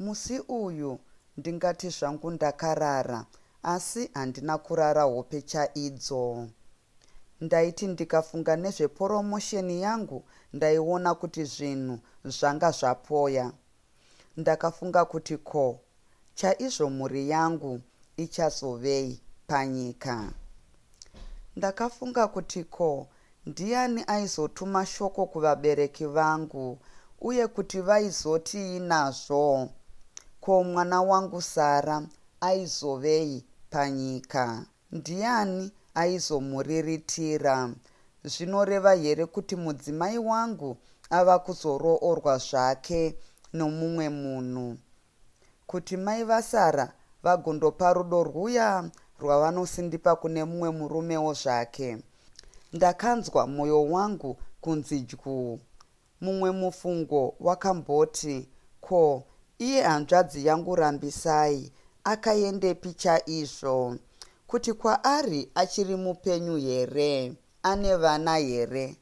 Musi uyu ndingati zvangu ndakarara asi handina kurara hope chaidzo. Ndaiti ndikafunga nezveporomosheni yangu ndaiona kuti zvinhu zvanga zvapoya. Ndakafunga kuti ko chaizvo mhuri yangu ichazovei panyika. Ndakafunga kuti ko ndiani aizotuma shoko kuvabereki vangu uye kuti vaizotii nazvo. Ko mwana wangu Sara aizovei panyika? Ndiani aizomuriritira? Zvinoreva here kuti mudzimai wangu ava kuzoroorwa zvake nomumwe munhu? Kuti mai vaSara vagondopa rudo rwuya rwavanosindipa kune mumwe murumewo zvake? Ndakanzwa mwoyo wangu kunzi dyuu. Mumwe mufungo wakamboti, Ko, iye hanzvadzi yangu Rambisai akaendepi chaizvo? Kuti kwaari achiri mupenyu here? Ane vana here?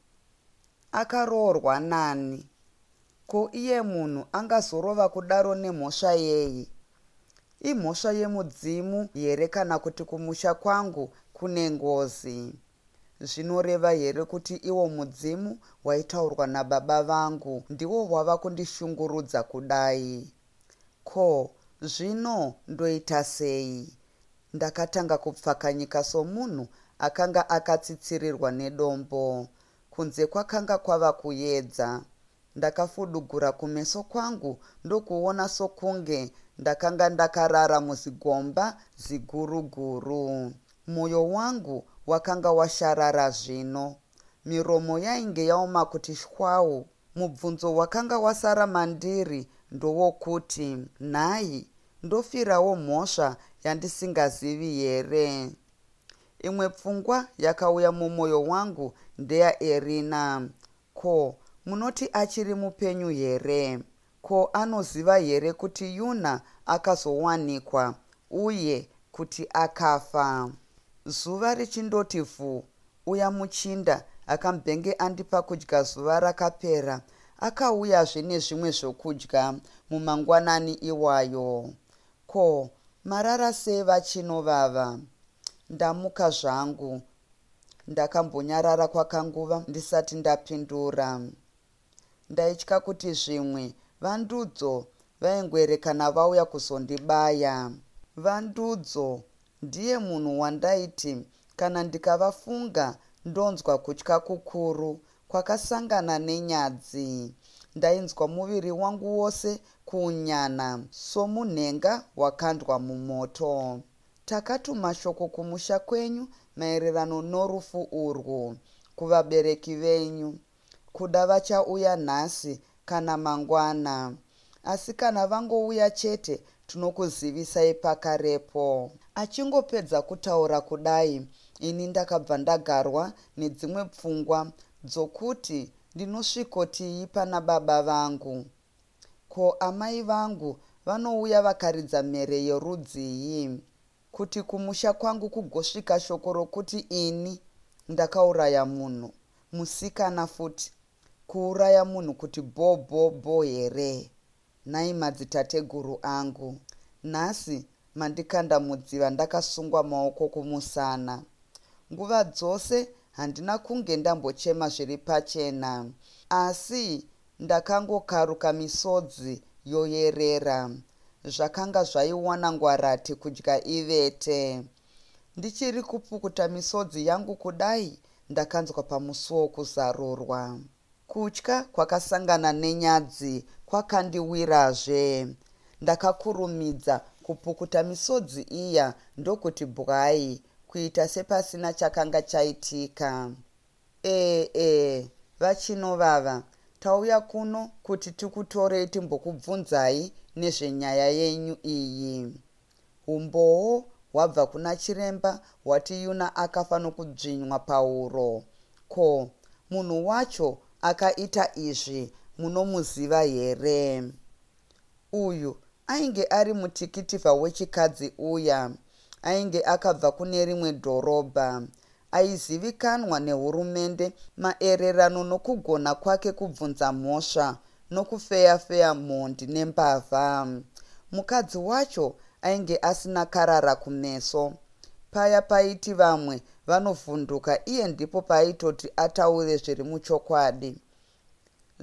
Akaroorwa nani? Ko iye munhu angazorova kudaro nemhosva yei? Imhosva yemudzimu here kana kuti kumusha kwangu kune ngozi? Zvinoreva here kuti iwo mudzimu waitaurwa nababa vangu ndiwo wava kundishungurudza kudai? Ko, zvino ndoita sei? Ndakatanga kupfakanyika somunhu akanga akatsitsirirwa nedombo. Kunze kwakanga kwava kuyedza. Ndakafudugura kumeso kwangu ndokuona sokunge ndakanga ndakarara muzigomba ziguru guru. Moyo wangu wakanga washarara zvino. Miromo yainge yaoma kuti shwawu. Mubvunzo wakanga wasara mandiri ndowokuti, Nhai, ndofirawo mhosva yandisingazivi here? Imwe pfungwa yakauya mumoyo wangu ndeya Erina. Ko, munoti achiri mupenyu here? Ko anoziva here kuti Yuna akazowanikwa uye kuti akafa? Zuva richindoti vhu, uya muchinda akambenge andipa kudya zuva rakapera akauyazve nezvimwe zvokudya mumangwanani iwayo. Ko marara sei vachino vava? Ndamuka zvangu. Ndakambonyarara kwakanguva ndisati ndapindura. Ndaitya kuti zvimwe VaNdudzo vaingoerekana vauya kuzondibaya. VaNdudzo ndiye munhu wandaiti kana ndikavafunga ndonzwa kutya kukuru kwakasangana nenyadzi. Ndainzwa muviri wangu wose kuunyana somunhenga wakandwa mumoto. Takatuma shoko kumusha kwenyu maererano norufu urwu, kuvabereki venyu. Kuda vachauya nhasi kana mangwana. Asi kana vangouya chete tinokuzivisai pakarepo. Achingopedza kutaura kudai ini ndakabva ndagarwa nedzimwe pfungwa dzokuti ndinosvikotii pana baba vangu. Ko amai vangu vanouya vakaridza mhere yerudzii? Kuti kumusha kwangu kugosvika shoko rokuti ini ndakauraya munhu, musikana futi, kuuraya munhu kuti bho bho bho here? Nhai madzitateguru angu, nhasi mandikanda mudziva ndakasungwa maoko kumusana. Nguva dzose handina kunge ndambochema zviri pachena, asi Ndakangokaruka misodzi yoyerera. Zvakanga zvaiwana ngwarati kudya ivete. Ndichiri kupukuta misodzi yangu kudai ndakanzwa pamusuwo kuzarurwa. Kutya kwakasangana nenyadzi kwakandiwirazve. Ndakakurumidza kupukuta misodzi iya ndokuti bwai kuita sepasina chakanga chaitika. Eeh eeh vaChino vava tauya kuno kuti tikutorei timbokubvunzai nezvenyaya yenyu iyi. Humbowo hwabva kuna chiremba hwati Yuna akafa nokudzvinywa pahuro. Ko, munhu wacho akaita izvi munomuziva here? Uyu ainge ari mutikitivha wechikadzi uya ainge akabva kune rimwe dhorobha. Aizivikanwa nehurumende maererano nokugona kwake kubvunza mhosva nokufeya-feya mhondi nembavha. Mukadzi wacho ainge asina karara kumeso. Paya paiti vamwe vanovhunduka iye ndipo paaitoti ataure zviri muchokwadi.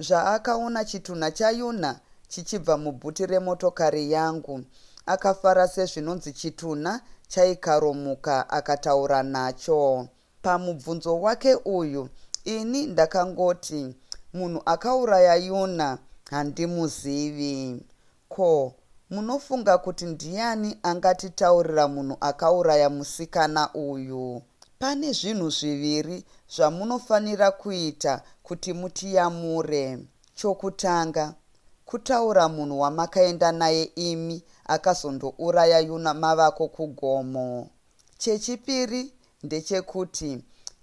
zvaakaona chitunha chaYuna chichibva mubhuti remotokari yangu. Akafara sezvinonzi chitunha chaikaromuka akataura nacho. Pamubvunzo wake uyu ini ndakangoti, Munhu akauraya Yuna handimuzivi. Ko munofunga kuti ndiyani angatitaurira munhu akauraya musikana uyu? Pane zvinhu zviviri zvamunofanira kuita kuti mutiyamure. Chokutanga, kutaura munhu wamakaenda naye imi akazondouraya yuna mavako kugomo. Chechipiri ndechekuti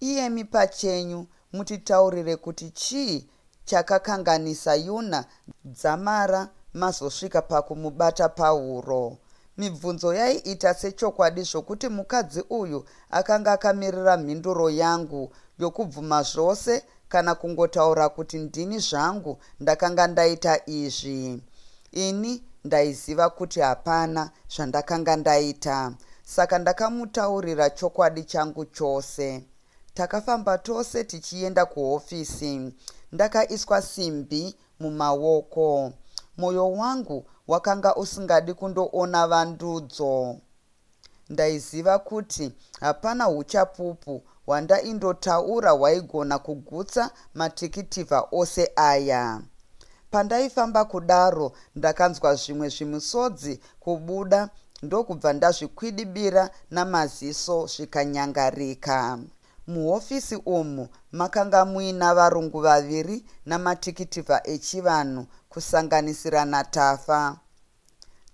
iyemi pachenyu mutitaurire kuti chii chakakanganisa Yuna dzamara mazosvika pakumubata pahuro. Mibvunzo yaiita sechokwadi zvokuti mukadzi uyu akanga akamirira mhinduro yangu yokubvuma zvose kana kungotaura kuti ndini zvangu ndakanga ndaita izvi ini ndaiziva kuti hapana zvandakanga ndaita saka ndakamutaurira chokwadi changu chose takafamba tose tichienda kuhofisi ndakaiswa simbi mumaoko mwoyo wangu wakanga usingadi kundoona vandudzo Ndaiziva kuti hapana huchapupu hwandaindotaura hwaigona kugutsa matikitivha ose aya. Pandaifamba kudaro ndakanzwa zvimwe zvimusodzi kubuda ndokubva ndazvikwidibira namaziso zvikanyangarika. Muhofisi umu makanga muina varungu vaviri namatikitivha echivanhu kusanganisira naTafa.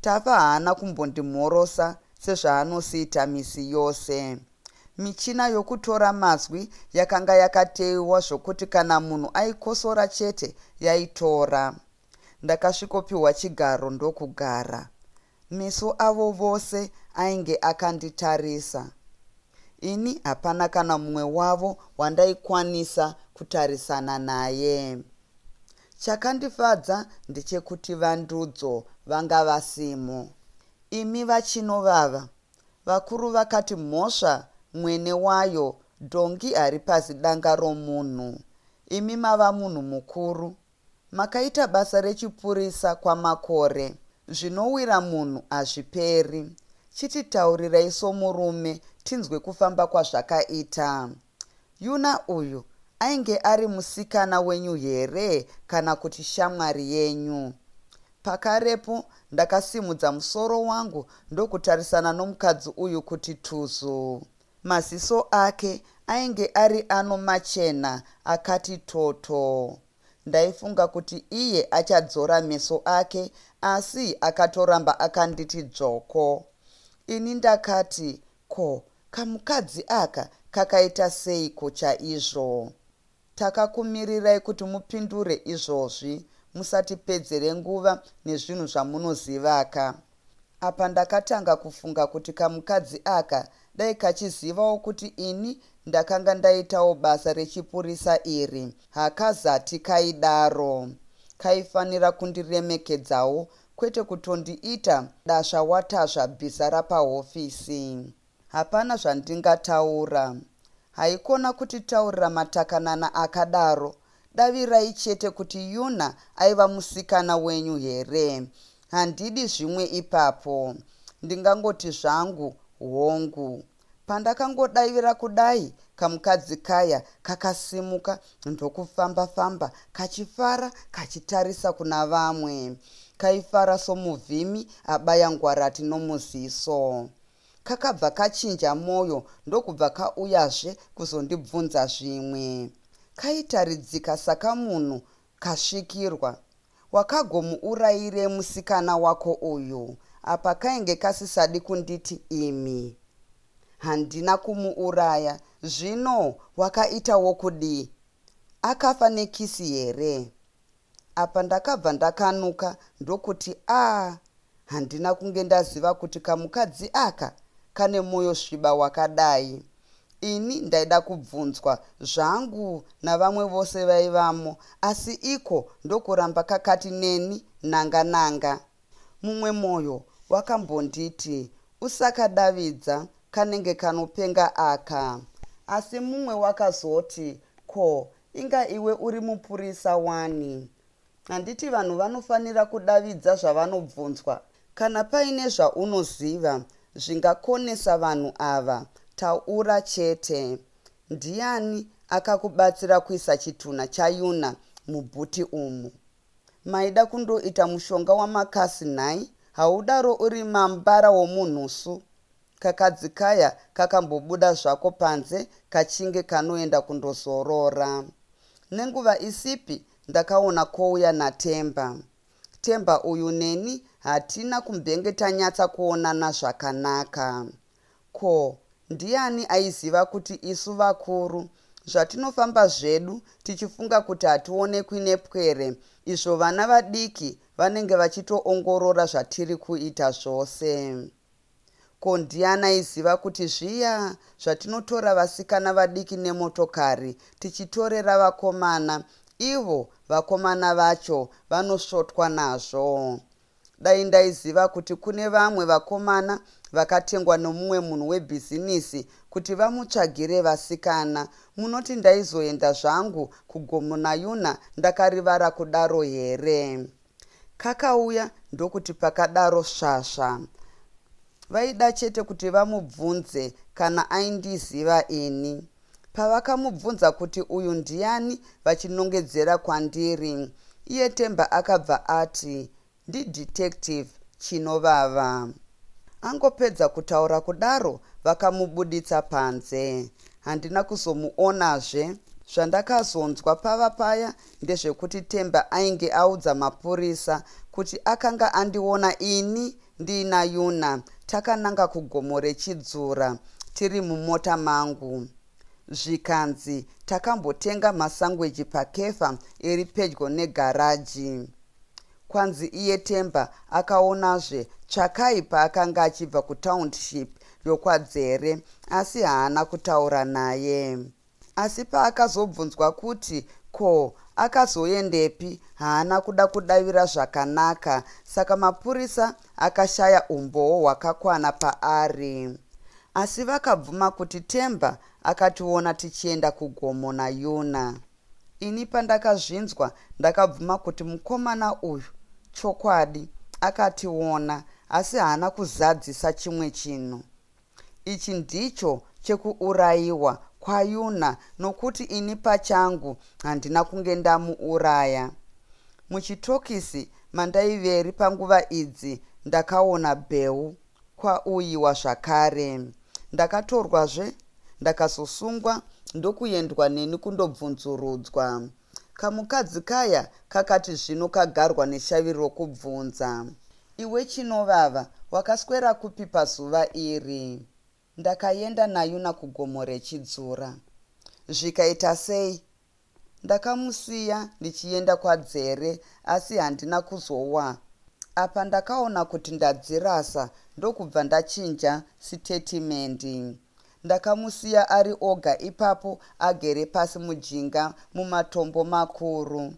Tafa haana kumbondimhorosa sezvaanosiita misi yose. Michina yokutora mazwi yakanga yakateiwa zvokuti kana munhu aikosora chete yaitora. Ndakasvikopiwa chigaro ndokugara. Meso avo vose ainge akanditarisa. Ini hapana kana mumwe wavo wandaikwanisa kutarisana naye. Chakandifadza ndechekuti vandudzo vanga vasimo. Imi vaChinovava, vakuru vakati mhosva mwene wayo dhongi haripazi danga romunhu. Imi mava munhu mukuru. Makaita basa rechipurisa kwamakore. Zvinowira munhu hazviperi. Chititaurirai somurume tinzwe kufamba kwazvakaita. Yuna uyu ainge ari musikana wenyu here kana kuti shamwari yenyu? Pakarepo ndakasimudza musoro wangu ndokutarisana nomukadzi uyu kuti tuzu. Maziso ake ainge ari ano machena akati toto. Ndaifunga kuti iye achadzora meso ake asi akatoramba akanditi dzvoko. Ini ndakati Ko kamukadzi aka kakaita seiko chaizvo? Takakumirirai kuti mupindure izvozvi, musatipedzere nguva nezvinhu zvamunozivaka. Apa ndakatanga kufunga kuti kamukadzi aka dai kachizivawo kuti ini ndakanga ndaitawo basa rechipurisa iri, hakazati kaidaro. Kaifanira kundiremekedzawo kwete kutondiita dasva watasva bhiza rapahofisi hapana zvandingataura haikona kutitaurira matakanana akadaro davirai chete kuti yuna aiva musikana wenyu here handidi zvimwe ipapo ndingangoti zvangu hongu Pandakangodaivira kudai kamukadzi kaya kakasimuka ndokufamba famba kachifara kachitarisa kuna vamwe. Kaifara somuvhimi abaya ngwarati nomuziso. Kakabva kachinja moyo ndokubva kauyazve kuzondibvunza zvimwe. Kaitaridzika sakamunhu Kasvikirwa. Wakagomuurayirei musikana wako uyu? Apa kainge kasisadi kunditi imi. Handina kumuuraya. Zvino wakaita wokudii? Akafa nekisi here? Apa ndakabva ndakanuka ndokuti aa handina kunge ndaziva kuti kamukadzi aka kane moyo sviba wakadai. Ini ndaida kubvunzwa zvangu navamwe vose vaivamo asi iko ndokuramba kakati neni nanga nanga. Mumwe moyo wakambonditi usakadavidza kanenge kanopenga aka. Asi mumwe wakazoti ko inga iwe uri mupurisa wani. Handiti vanhu vanofanira kudavidza zvavanobvunzwa? Kana paine zvaunoziva zvingakonesa vanhu ava, taura chete. Ndiani akakubatsira kuisa chitunha chayuna mubhuti umu? Maida kundoita mushonga wamakasi nhai? Haudaro uri mambara womunhusu. Kakadzi kaya kakambobuda zvako panze kachinge kanoenda kundozorora. Nenguva isipi ndakaona kouya naTemba. Temba uyu neni hatina kumbenge tanyatsa kuonana zvakanaka. Ko ndiani aiziva kuti isu vakuru zvatinofamba zvedu tichifunga kuti hationekwi nepwere izvo vana vadiki vanenge vachitoongorora zvatiri kuita zvose. Ko ndiani aiziva kuti zviya zvatinotora vasikana vadiki nemotokari tichitorera vakomana ivo vakomana vacho vanosvotwa nazvo. Dai ndaiziva kuti kune vamwe vakomana vakatengwa nomumwe munhu webhizinisi kuti vamutsvagire vasikana munoti ndaizoenda zvangu kugomo nayuna ndakarivara kudaro here Kakauya ndokuti pakadaro svasva. Vaida chete kuti vamubvunze kana aindiziva ini. Pavakamubvunza kuti uyu ndiani vachinongedzera kwandiri, iye Temba akabva ati, ndidetective Chinovava. Angopedza kutaura kudaro vakamubuditsa panze. Handina kuzomuonazve. Zvandakazonzwa pava paya ndezvekuti temba ainge audza mapurisa kuti akanga andiona ini ndiina yuna takananga kugomo rechidzura tiri mumota mangu zvikanzi takambotenga masangweji pakefa iri pedyo negaraji kwanzi iye temba akaonazve tsvakai paakanga achibva kutownship yokwadzere asi haana kutaura naye Asi paakazobvunzwa kuti ko akazoendepi haana kuda kudavira zvakanaka saka mapurisa akashaya umbowo hwakakwana paari. Asi vakabvuma kuti Themba akationa tichienda kugomo naYuna. Ini pandakazvinzwa ndakabvuma kuti mukomana uyu chokwadi akationa asi haana kuzadzisa chimwe chinhu. Ichi ndicho chekuurayiwa kwaYuna nokuti ini pachangu handina kunge ndamuuraya. Muchitokisi mandaiveri panguva idzi ndakaona Bheu kwauyiwa zvakare. Ndakatorwazve ndakazosungwa ndokuendwa neni kundobvunzurudzwa. Kamukadzi kaya kakati zvino kagarwa neshavi rokubvunza. Iwe Chinovava, wakaswera kupi pazuva iri? Ndakaenda naYuna kugomo reChidzura. Zvikaita sei? Ndakamusiya ndichienda kwaDzere asi handina kuzowa. Apa ndakaona kuti ndadzirasa ndokubva ndachinja sitetimendi. Ndakamusiya ari oga ipapo agere pasi mujinga mumatombo makuru.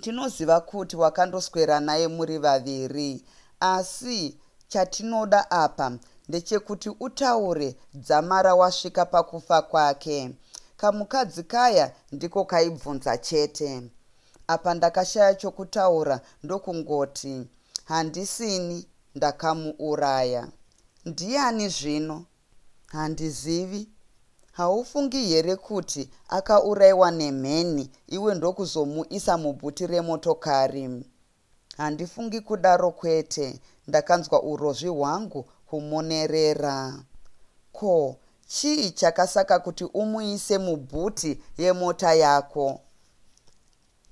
Tinoziva kuti wakandoswera naye muri vaviri asi chatinoda apa ndechekuti utaure dzamara wasvika pakufa kwake. Kamukadzi kaya ndiko kaibvunza chete. Apa ndakashaya chokutaura ndokungoti, handisini ndakamuuraya. Ndiani zvino? Handizivi. Haufungi here kuti akauraiwa nemheni iwe ndokuzomuisa mubhuti remotokari? Handifungi kudaro kwete, ndakanzwa urozvi hwangu humonerera. Ko, chii chakasaka kuti umuise mubhuti yemota yako?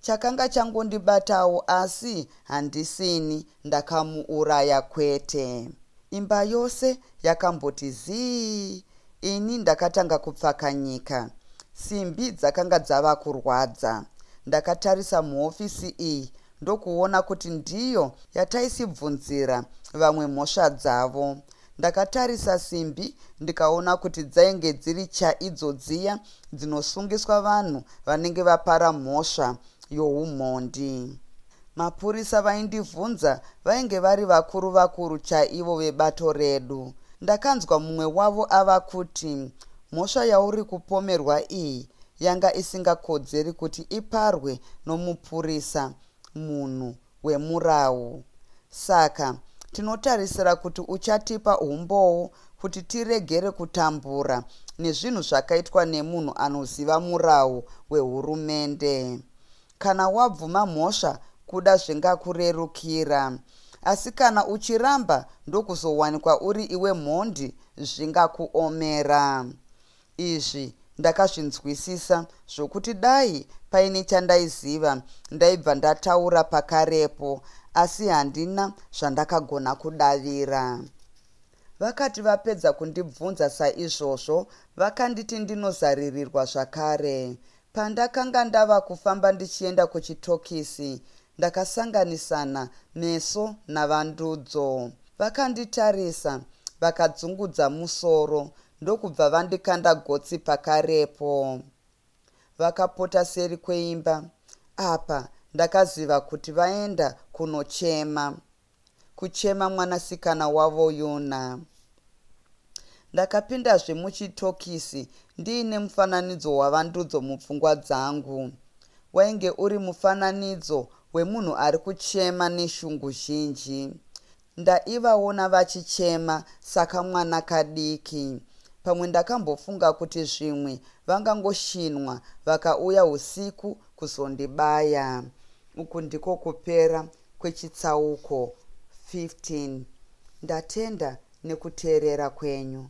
Chakanga changondibatawo asi handisini ndakamuuraya kwete. Imba yose yakamboti zii ini ndakatanga kupfakanyika. Simbi dzakanga dzava kurwadza. Ndakatarisa muhofisi iyi ndokuona kuti ndiyo yataisibvunzira vamwe mhosva dzavo. Ndakatarisa simbi ndikaona kuti dzainge dziri chaidzo dziya dzinosungiswa vanhu vanenge vapara mhosva youmhondi. Mapurisa vaindivhunza vainge vari vakuru vakuru chaivo vebato redu. Ndakanzwa mumwe wavo ava kuti, Mhosva yauri kupomerwa iyi yanga isingakodzeri kuti iparwe nomupurisa, munhu, hwemurawu. Saka, tinotarisira kuti uchatipa umbowo kuti tiregere kutambura nezvinhu zvakaitwa nemunhu anoziva murawu wehurumende. Kana wabvuma mhosva kuda zvingakurerukira. Asi kana uchiramba ndokuzowanikwa uri iwe mhondi zvingakuomera. Izvi ndakazvinzwisisa zvokuti dai paine chandaiziva ndaibva ndataura pakarepo asi handina zvandakagona kudavira. Vakati vapedza kundibvunza saizvozvo vakanditi ndinozaririrwa zvakare. Pandakanga ndava kufamba ndichienda kuchitokisi ndakasanganisana meso naVandudzo. Vakanditarisa vakadzungudza musoro ndokubva vandikanda gotsi pakarepo vakapota seri kweimba apa ndakaziva kuti vaenda kunochema kuchema mwanasikana wavo yuna ndakapindazve muchitokisi ndiine mufananidzo wavandudzo mupfungwa dzangu wainge uri mufananidzo wemunhu ari kuchema neshungu zhinji Ndaivaona vachichema sakamwana kadiki. Pamwe ndakambofunga kuti zvimwe vangangoshinwa vakauya usiku kuzondibaya. Uku ndiko kupera kwechitsauko 15. Ndatenda nekuteerera kwenyu.